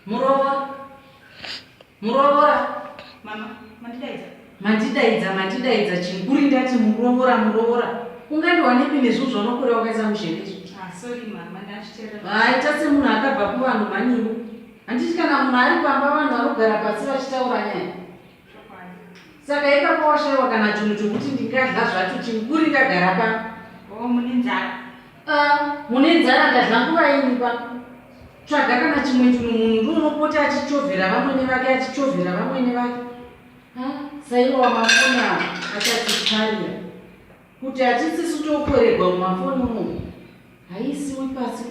muroora muroora mama mandidaidza mandidaidza mandidaidza chinhu kuri ndati muroora muroora ungandiwanepi nezvinhu zvaunokorera wakaisa muzhevezvo ah, aita ah, semunhu akabva kuvanhu mhaniwo handiti kana munhu ari pamba vanhu vanogara pasi vachitaura nyaya Saka ipapo washaiwa kana chinhu chokuti ndingadla zvacho chinhu kuri ndagara pa oh, mune nzara ah, mune nzara ndadla nguva ini pa tsvaga kana chimwe chinhu munhu ndiunopota achichovhera vamwene vake achichovhera vamwene vake ah, saiwa wamafona achatikarira kuti hatisisu tokorerwa mumafoni unomu haisiwi pasi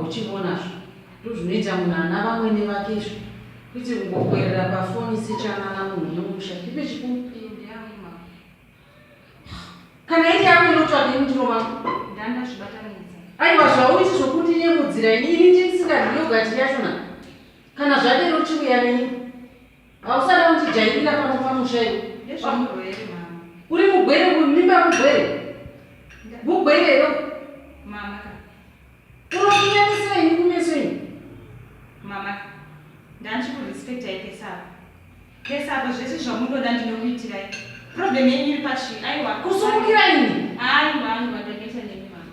Uchivona zvo ndozvinoita munhu ana vamwene vake izvo kuite kungokwerera pafoni sechanana munhu yemusha ndipe chikuru kana iri yako inotsvake mutiro mako aiwa zvauiti zvokuti nyemudzira ini ini ndisingadiyogatiri yachona kana zvadero chiuya neni Hausada kutijairira pano pamusha iwe. Ndezvamuro here mama? Uri mugwere uyu mimba mugwere. Mugwere here? Mama ka. Unokunyanisira ini kumeso ini. Mama ka. Ndanzi kurespecta ike saka. Kesaka zvese zvamunoda ndinokuitirai. Problem yenyu iri pachi. Aiwa. Kusumukira ini. Aiwa, aiwa ndageta nemi mama.